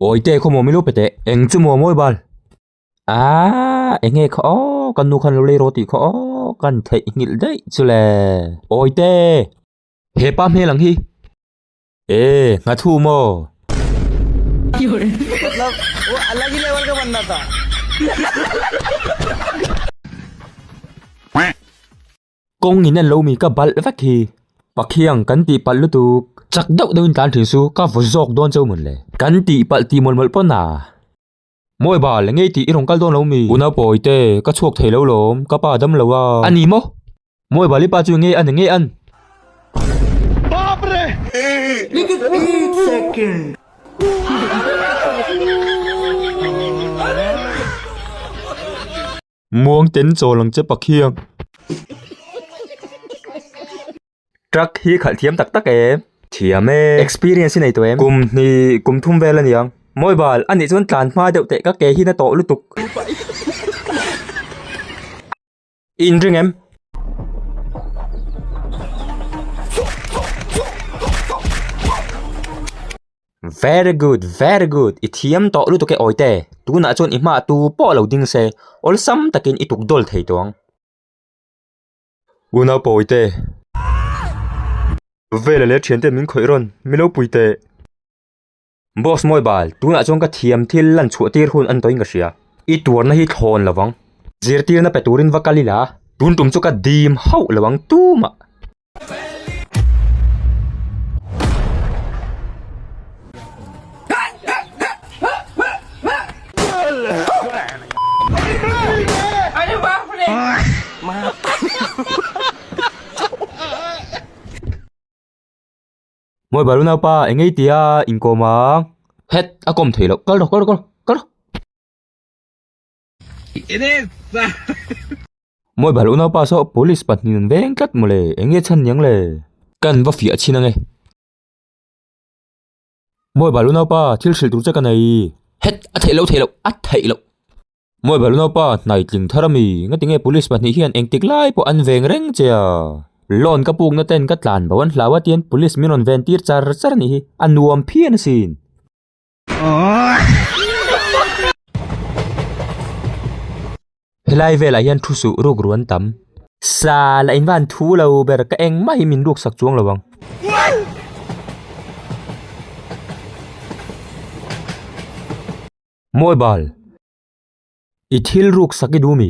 Oi te khaw mawmi lupe teh eng chu maw mawi bal aaa eng nge kha aww kan nu khan lo lei rawh tih kha aww kan theih nghilh daih chu le aww te hepa hmel ang hi. E Hnathum aw. Kawng in an lo mi ka balh vek hi. Pakhiang kan tih palh lutuk. Chak deuh deuhin tlan thin chu ka vawzawk dawn cheu mawn le. Kan tih palh tih mawlh mawlh pawn a. Mawi bal, ngei tih i rawn kal dawn lo mi? Una pawi te, ka chhuak thei lo lawm, ka pa dam lo a. A ni maw? Mawi bal, i pa chu nge a ni, nge an? Baap re! Muang ten chawl ang che Pathian. Truck hi khalh thiam tak tak em. Thiam e. Experience i nei tawh em. Kum hni kum thum vel a ni ang. Mobile a nih chuan tlan hma deuh teh ka ke hi na tawh lutuk. I in ring em? Very good very good i thiam tawh lutuk e awite tunah chuan i hma tu pawh lo ding se awlsam takin i tukdawl thei tawh ang unau pawi te vela leh thiante min khawih rawn mi lo pui teh boss mawi bal tunah chuan ka thiam thil lan chhuah tir hun antawin ka hria i tuarna hi thlawn lovang zirtirna pe turin va kal ila tun tum chu ka dim hauh lo ang tumah. Moi balu nau pa engei tia inkawm a het a kawm thei lo kal rawh kal rawh kal rawh kal rawh. Mawi balh unaupa saw police pahnih nun veng tlat maw le, eng nge chhan niang le? Kan va fiah chhin ange. Mawi balh unaupa, thil hrilh tur che ka nei. Het, a theih loh, theih loh, a theih loh. Mawi balh unaupa, hnai tling thar a mi, ngatinge police pahnih hian engtik lai pawh an veng reng che a. Loan ka pukna ten ka tlan bo an hlau a tian police min rawn ven tir char char a nih hi, a nuam phian asin. Helai velah hian thu suh ruk ruan tam. Sa la in van thu lo ber ka eng mah hi min ruk sak chuang lo vang. Mobile. I thil ruk sak i du mi.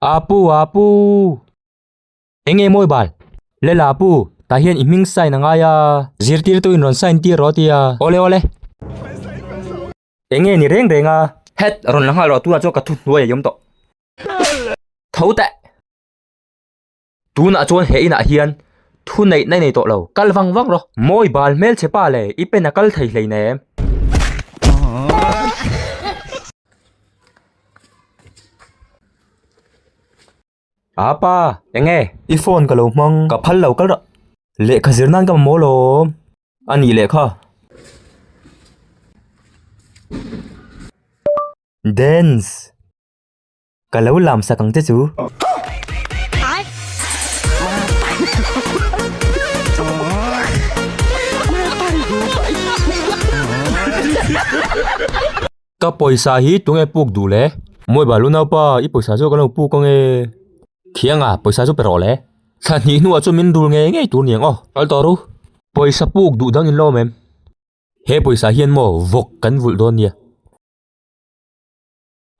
Apu, Apu! Enge mawi bal? Lela Apu, tah hian i hming sign a ngai a. Zirtirtu in rawn sign tir rawh a ti a. Awle awle. Enge ni reng reng a? Head, rawn la nghal rawh, tunah chuan ka thuhnuaia i awm tawh. Tho teh! Tunah chuan he inah hian thu neihna i nei tawh lo, kal vang vang rawh. Mawi bal hmel che pa le, i pen a kal thei hlein em. A pa, eng nge? I phone ka lo hmang, ka phal lo kal rawh. Lehkha zir nan ka mamawh lawm. A nih leh kha. Dance. Ka lo lam sak ang che chu. Ka pawisa hi tunge puk duh le? Mawi bal u naupa, i pawisa chu ka lo puk ang e. Thianga, pawisa chu pe rawh le. Thla hnih hnua chu min rul ngei ngei tur ni ang aw. Kal tawh ru. Pawisa puk duh dang in lawm em? He pawisa hian maw vawk kan vulh dawn nia.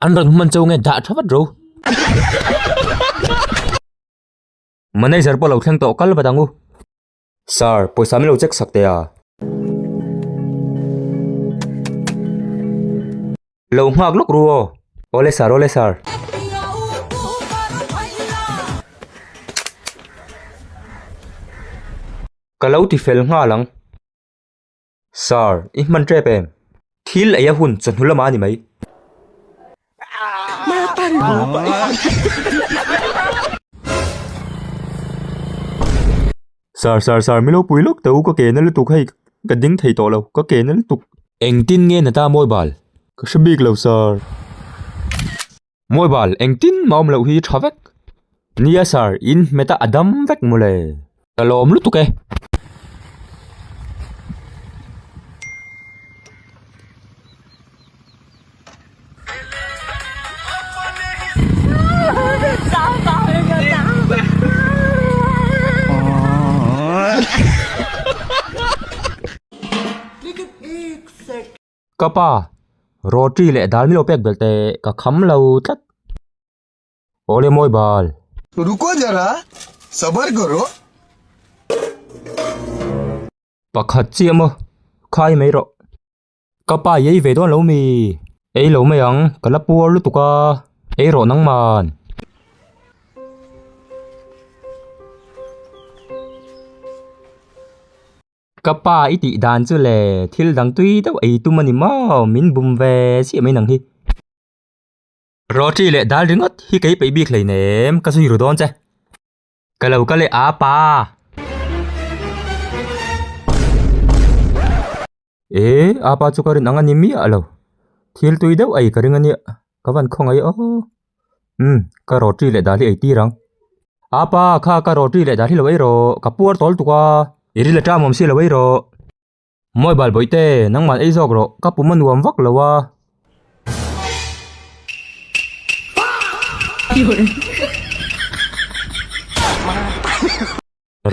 An rawn hman cho nge dah tha vat ro. Manager pawh lo thleng tawh kal vat ang u. Sir, pawisa min lo check sak teh a. Lo nghak lawk ru aw. Awle sir, awle sir. Ka lo ti fel nghal ang. Sir, i hman tep em? Thil eia hun chawhnu lamah a ni mai. Sir, sir, sir, milo pui lawk teh u ka kena lutuk hei ka ding thei tawh lo, ka kena lutuk. Engtin nge na ta mawi bal? Ka hre bik lo sir. Mobile engtin mah awm loh hi tha vek nia sir in hmeta a dam vek maw le ka lawm lutuk e. Ka pa, roti leh dal milo pek belte ka kham lo tlat. Aw le mawi bal. Ruko zara, sabar karo. Pakhat chi emaw, khai mai rawh. Ka pa i ei ve dawn lo mi? Ei lo mai ang, ka la puar lutuk a, ei rawh nangman. Ka pa i tih dan chu le, thil dang tui deuh ei tum a ni maw? Min bum ve siam mai nang hi. Roti leh dal ringawt hi kei peih bik hlein em, ka zui ru dawn che. Ka lo ka leh a pa. E, a pa chu ka rinang a ni miah lo. Thil tui deuh ei ka ring a nia, ka van khawngaih aw. Umm, ka roti leh dali ei tir ang. A pa, kha ka roti leh dali lo erawh, ka puar tawl tuk a. I ril a ṭam awm si lo erawh. Mawi bal bawih te, nangman ei zawk rawh, ka pum a nuam vak lo a.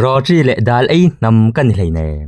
Roti leh dal ei hnam ka ni hleinem.